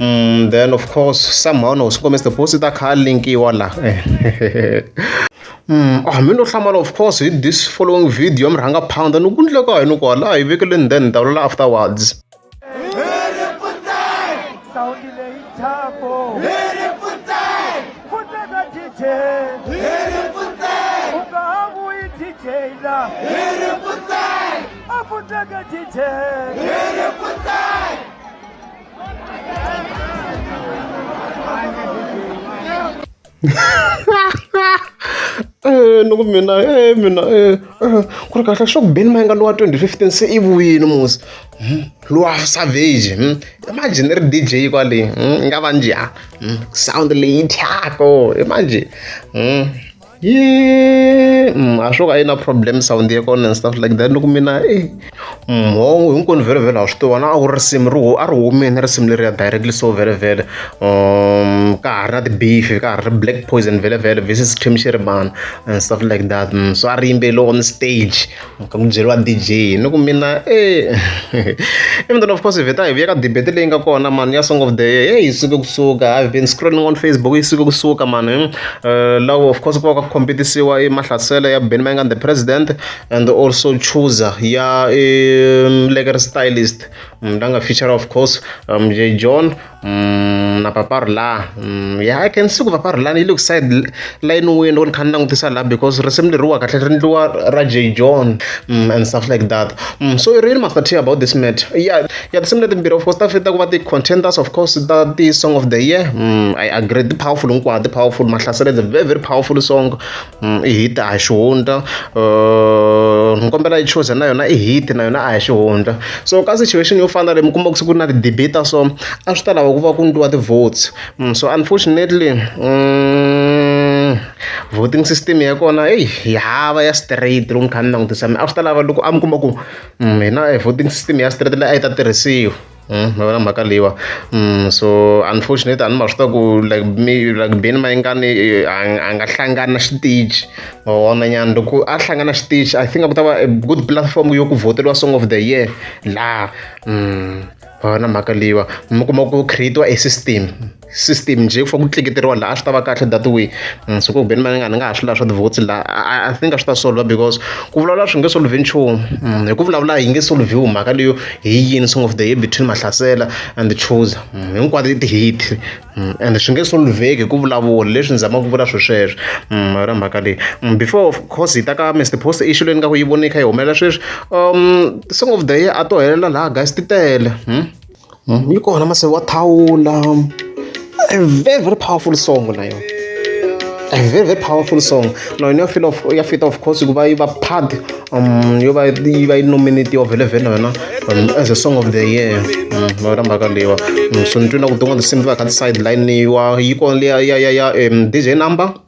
mm, then of course somehow no swi kombisa deposit account link yiwa la Mm, ah, mi no hlamala of course hi this following video mi rhanga pound ni ku ndleka hi ni ku hala hi vekele ni then ni ta vulela afterwards Hit it, put that. Eh, ni ku mina e mina e ku ri kahle swa ku beni ma yi nga lowa 2015 se i vuyini musi hmm, lowa savage hmm. imagine ri dj kwale hmm, i nga va njhani sound leyi thyako imagine yee mm, a swo ka yi na problem sound ya kona and stuff like that ni ku mina e mhongo mm, hinkwenu vhele vhele ha swi tiva na a ku ri risimu ri a ri humeni risimu leri ya directly so vhele vhele um ka ha ri na ti-beef ka ha ri black poison vhele vhele versus tim shiribana and stuff like that mm, so a ri yimbeliwa on stage Ku mi byeriwa D_J ni ku mina even though of course hi vheta hi vuya ka debate leyi nga kona mhani ya song of the year heyi yi suke kusuka I have been scrolling on Facebook yi suke kusuka mhani laha of course ku va ku kha ku compete-isiwa i Mahlasela ya Benny Mayengani the president and also Chooser ya Lekker Stylist la nga feature of course J John. Mm, na paparu laha mm, ya i can see ku paparu lani yi le ku side line wini loko ni kha ni langutisa laha because risimu leriwa kahle ri ndliwa ra j john mm, and stuff like that mm, so really master t about this matter ya ya tinsimu letimbirhi of course ta fita ku va ti-contenders of course ta ti-song of the year mm, i agree ti-powerful hinkwato ti-powerful mahlasela is a very very powerful song i hit a hi xihundla ni kombela i choose na yona i hit na yona a hi xihundla so ka situation yo fana na leyi mi kuma ku se ku ri na ti-debate ta so a swi ta lava ku va ku endliwa ti-votes so unfortunately voting system ya kona eyi yi hava ya straight loko ni kha ni langutisa mina a swi ta lava loko a mi kuma ku hina voting system ya straight leyi a yi ta tirhisiwa. hi yona mhaka leyiwa so unfortunate a ni ma swi tiva ku like mi like beni mayengani a nga hlangani na xitichi ma vona nyana loko a hlangana xitichi I think a ku ta va a good platform yo ku vhoteliwa song of the year laha ma vona mhaka leyiwa mi kuma ku create-iwa e system. system njhe ku fa ku tleketeriwa laha a swi ta va kahle that way mm, so ku ku beni mani nga ni nga ha swi laha swa ti-votes laha i think a swi ta solver because ku vulavula swi nge solve nchumu mm, hi ku vulavula hi nge solviwi mhaka leyo hi yini song of the year between mahlasela and the chooser mm, hinkwato i ti-hit and swi nge solveki hi ku vulavula leswi ni zamaka ku vula swi sweswo ra mhaka leyi before of course hi ta ka mr post i xilo ni nga ku yi voni yi kha yi humelela sweswi um song of the year a to helela laha guys ti tele Yi kona masiku wa thawula a very very powerful song na yona a very very powerful song na yona ya fila ya fit of course hikuva yi va part yo va yi va yi nominate-iwa vhele vhele na yona as a song of the year na yona mhaka leyiwa so ni twile na ku tin'wana tinsimu ti va ti kha ti sayitilayiniwa yi kona liya ya ya ya D_J number.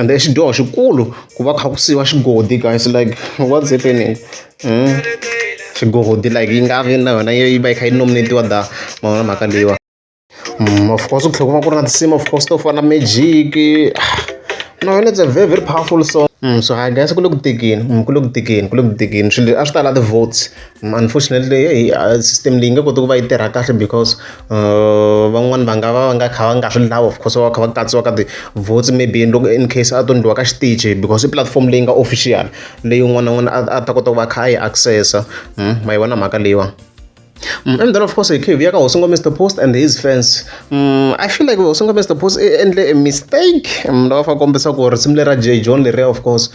ende i xidyoho xikulu ku va kha ku siyiwa xigodi guys like what's happening xigodi like yi nga vi na yona yi va yi kha yi nominate-iwa da ma vona mhaka leyiwa of course ku tlhela ku va ku ri na tinsimu of course to fana magic no yona it's a very very powerful song so i guess ku le ku tekeni ku le ku tekeni ku le ku tekeni swilo a swi ta la ti-votes. Unfortunately system leyi yi nge koti ku va yi tirha kahle because van'wani va nga va va nga kha va nga swi lavi of course va va kha va katsiwa ka ti-votes maybe loko in case a to endliwa ka xitichi because i pulatifomo leyi nga official leyi un'wana na un'wana a a ta kota ku va a kha a yi access-a ma yi vona mhaka leyiwani. And then of course hi tlhela hi vuya ka hosi Mister Post and his fans I feel like hosi Mister Post i endle a mistake ni lava ku va kombisa ku ri risimu lera Jay John leriya of course.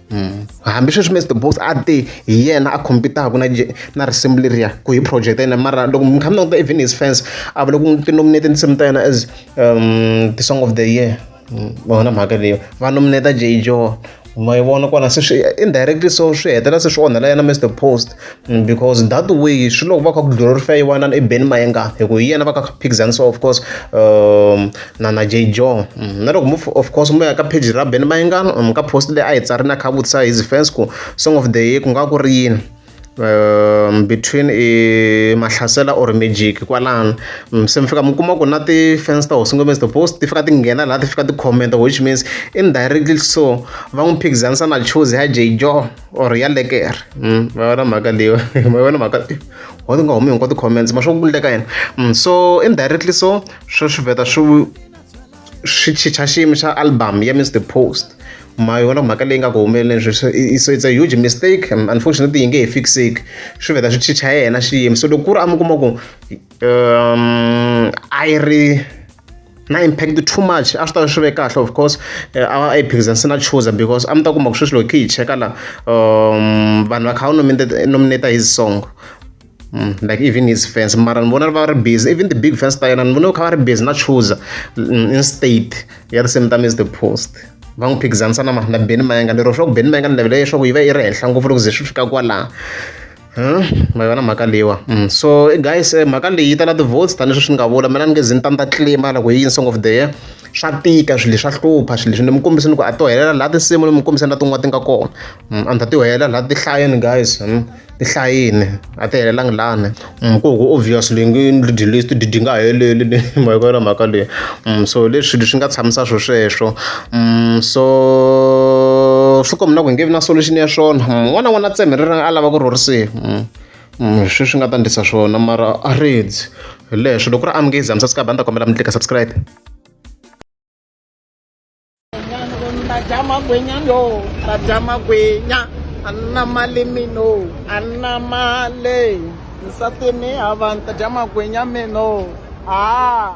Mm. hambi sweswi mr boss a te hi yena a competaka na na risimu leriya ku hi project ya yena mara loko mi kha mi languta even his fans a va loko ti nominate tinsimu ta yena as um the song of the year mm, vona mhaka leyo va nominate jay jo ma yi vona kona se swi indirectly so swi hetelela se swi onhela yena mr post because that way swi loko va kha ku glorifyiwa na i Ben Mayenga hi ku hi yena va ka Phikizani so of course um, na na J John mm, na loko of course mu ya ka page ra Ben Mayenga mi ka post leyi a yi tsari na kha vutisa his fans ku song of the year ku nga ku ri yini um between i mahlasela or magic kwalano mm, se mi fika mi kuma ku na ti-fans ta hosi ngombe the post ti fika ti nghena laha ti fika ti-commenta which means indirectly so va n'wi phikizanisa na choose ya jay john or ya lekere mm, ma vona mhaka leyo ma vona mhaka wa ti nga humi hinkwa ti-comments ma swa ku leka yena mm, so indirectly so swi swi vheta swi swi chicha xiyimo xa album ya mr post ma yona mhaka leyi nga ku humeleleni sweswi so it's a huge mistake unfortunately yi nge he fixeki swi vheta swi chicha yena xiyimo so loko ku ri a mi kuma ku um a yi ri na impact too much a swi ta swi ve kahle of course eh, a yi phikizana se na chuza because a mi ta kuma ku sweswi loko khe yi cheka la um vanhu va kha va nominate his song Mm, like even his fans mara ni vona va ri busy even the big fans ta yena ni vona kha va ri busy na chuza mm, instead ya the same time is the post va n'wi phikizanisa na na beni mayanga lero swa ku beni mayanga ni navela leswaku yi va yi ri henhla ngopfu loko ze swi fika kwalaha ma yi vona mhaka leyiwa so guys eh, mhaka leyi yi tala ti-votes tanihi sweswi ni nga vula mina ni nge zi ni ta ni ta tlima loko yi song of the year swa tika swilo leswi swa hlupha swilo leswi ni mi kombise ni ku a to helela laha tinsimu ni mi kombise na tin'wana ti nga kona a ni ta ti helela laha ti hlayeni guys ti hlayini a ti helelangi lani ku ku obvious leyi ngi lidi list didi nga heleli ma yi kona mhaka leyi so leswi swilo swi nga tshamisa swo sweswo so swi komba ku hi nge vi na solution ya swona un'wana na un'wana a tshembe a lava ku rhurisiwa sweswi swi nga ta endlisa swona mara a rindzi hi leswo loko ku ri amukezi a mi subscribe a ni ta kombela mi tlika subscribe badya magwenya no badya magwenya a na mali mino a na mali nsati ni havani ta dya magwenya mino a